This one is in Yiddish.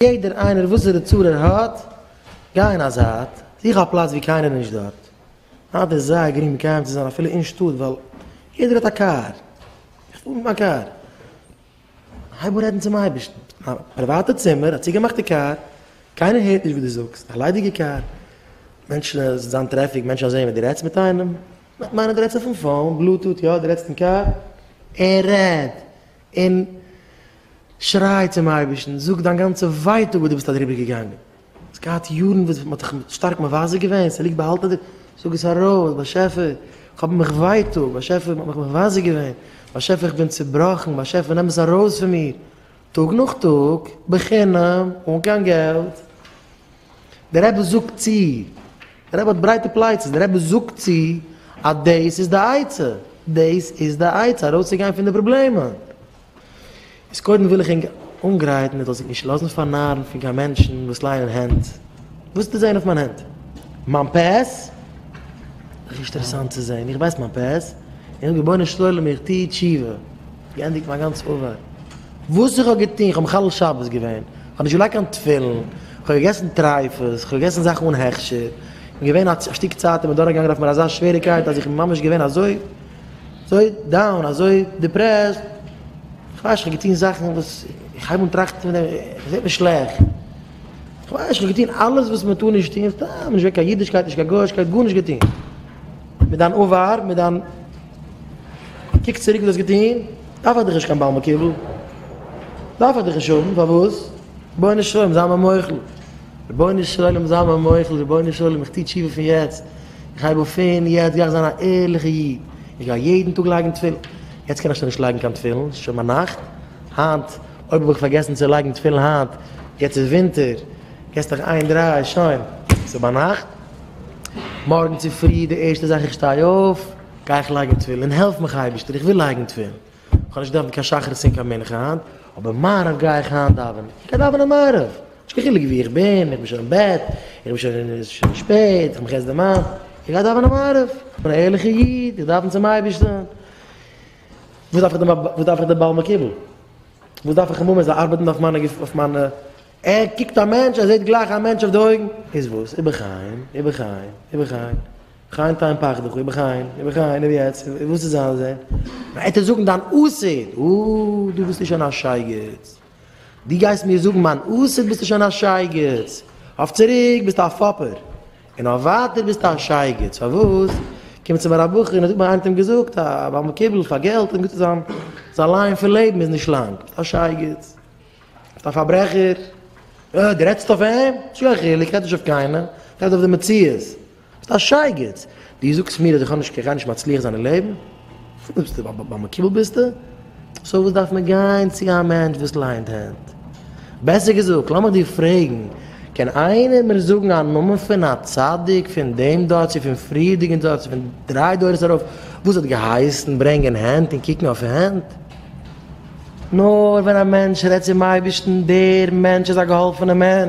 יעדער איינער וואסערע צרה ער האט, גיי אין א זייט, זוך א פלאץ וואו קיינער איז נישט דארט. היינט איז זייער גרינג מקיים צו זיין אפילו אין שטאט ווייל יעדער האט א קאר. איך פאר מיט מיין קאר. הייב אן רעדן צום אייבערשטן. א פריוואטע צימער, א צוגעמאכטע קאר, קיינער הערט נישט וואס דו זאגסט, א ליידיגע קאר, מענטשן עס וועט זיין טרעפיק, מענטשן וועלן זען ווען דו רעדסט מיט איינעם, וועט מיינען דו רעדסט אויפן פאון, בלוטוט, יא דו רעדסט אין קאר, ער רעד. און שריי צום אייבערשטן, זאג דיין גאנצע ווייטאג וואס דו ביסט אדריבער געגאנגען, האסט געהאט יארן וואס מען האט דיך שטארק מבזה געווען, עס ליגט באהאלטן אין דיר, זאג עס ארויס, באשעפער איך האב מיך ווייטאג, באשעפער מען האט מיך מבזה געווען, באשעפער איך בין צובראכן, באשעפער נעם עס ארויס פון מיר, טאג נאך טאג, בחינם, אן קיין געלט. דער רבי זאגט צו, דער רבי האט ברייטע פלייצעס, דער רבי זאגט צו אז דאס איז די עצה, דאס איז די עצה ארויסצוגיין פון די פראבלעמען. איז קודם וויל איך ענק אנגרייטן מען זאל זיך נישט לאזן פארנארן פון קיין מענטשן וואס ליינען הענט. וואס ווילסטו זען אויף מיין הענט? מיין פעס? זיך נישט אינטערעסאנט צו זען, איך ווייס מיין פעס, איך זאג רבונו של עולם איך טו תשובה, געענדיגט מיין גאנצע ארבייט, וואס איך האב געטון, איך האב מחלל שבת געווען, כ'האב נישט געלייגט קיין תפילין, כ'האב געגעסן טרייפות, כ'האב געגעסן זאכן אן הכשר, איך בין געווען א שטיק צייט אינמיט דורכגעגאנגען אויף מיר אזא שוועריקייט אז איך בין ממש געווען אזוי דאון, אזוי דיפרעסט, כ'ווייס נישט, כ'האב געטון זאכן וואס איך הייב אן טראכטן פון דעם, כ'זע מיר שלעכט, כ'ווייס נישט, כ'האב געטון אלעס וואס מ'טאר נישט טון, סתם נישט געווען קיין אידישקייט, נישט קיין גויאישקייט, גארנישט געטון. מיט דיין עבר, מיט דיין קוק צוריק וואס דו האסט געטון, דארף איך דיך נישט קיין בעל מקובל, דארף איך דיך נישט האבן, פארוואס? רבונו של עולם זיי מיר מוחל, רבונו של עולם זיי מיר מוחל, רבונו של עולם איך טו תשובה פון יעצט, איך הייב אויף פון יעצט גיי איך זיין א ערליכע איד, איך גיי יעדן טאג לייגן תפילין, יעצט קען איך שוין נישט לייגן קיין תפילין, ס'שוין ביינאכט, היינט אויב האב איך פארגעסן צו לייגן תפילין היינט, יעצט איז ווינטער, געסט דיך איין דריי, שוין, ס'ביינאכט. מארגן צופרי די ערשטע זאך איך שטיי אויף גיי איך לייגן תפילין, העלף מיך אייבערשטער איך וויל לייגן תפילין, איך האב נישט געדאווענט קיין שחרית און קיין מנחה היינט, אבער מעריב גיי איך היינט דאווענען, איך גיי דאווענען מעריב, נישט קיין חילוק וואו איך בין, איך בין שוין אין בעט, איך בין שוין, עס איז שוין שפעט, איך מאך עס די מ א, איך גיי דאווענען מעריב, איך בין א ערליכע איד, איך דאווען צום אייבערשטן, וואס דארף איך דעם בעל מקוה? וואס דארף איך אים האבן ער זאל ארבעטן אויף מיינע געפיל אויף מיינע. ער קוקט א מענטש, ער זעט גלייך א מענטש אויף די אויגן, איז וואס? איבער חיים, איבער חיים, איבער חיים, חיים תן פחדך, איבער חיים, איבער חיים, איבער יעצט, איבער וואס איז אלעס דען? וועט ער זאגן דיין אסד, אוי, דו ביסטו שוין א שייגעץ, דו גייסט מיר זאגן מיין אסד, ביסטו שוין א שייגעץ, אויף צוריק ביסטו א פאפער, און אויף ווייטער ביסטו א שייגעץ, פארוואס? קומט צו מיר א בחור און ער זאגט מיר, איינער האט אים געזאגט אז ביי מקובל פאר געלט, און גוט איז זיין, זיין ליין פון לעבן איז נישט לאנג, ביסטו א שייגעץ. ביסט א פארברעכער? אה, דו רעדסט אויף אים? צו א חילוק, רעד נישט אויף קיינעם, רעד אויף די מציאות. ביסט א שייגעץ! דו זאגסט מיר אז איך האב נישט קיין גארנישט מצליח זיין אין לעבן? פון וואס ביסטו ב ב מקובל ביסטו? סאו וואס דארף מען גיין צו א מענטש וואס ליינט הענט? בעסער געזאגט, לאמיך דיר פרעגן, קען איינער מיר זאגן א נאמען פון א צדיק פון דעם דור צו פון פריערדיגן דור צו פון דריי דורות ארויף וואס האט געהייסן ברענגען הענט און קוקן אויף הענט? נאר ווען א מענטש רעדט צום אייבערשטן, דער מענטש איז א געהאלפענע מענטש,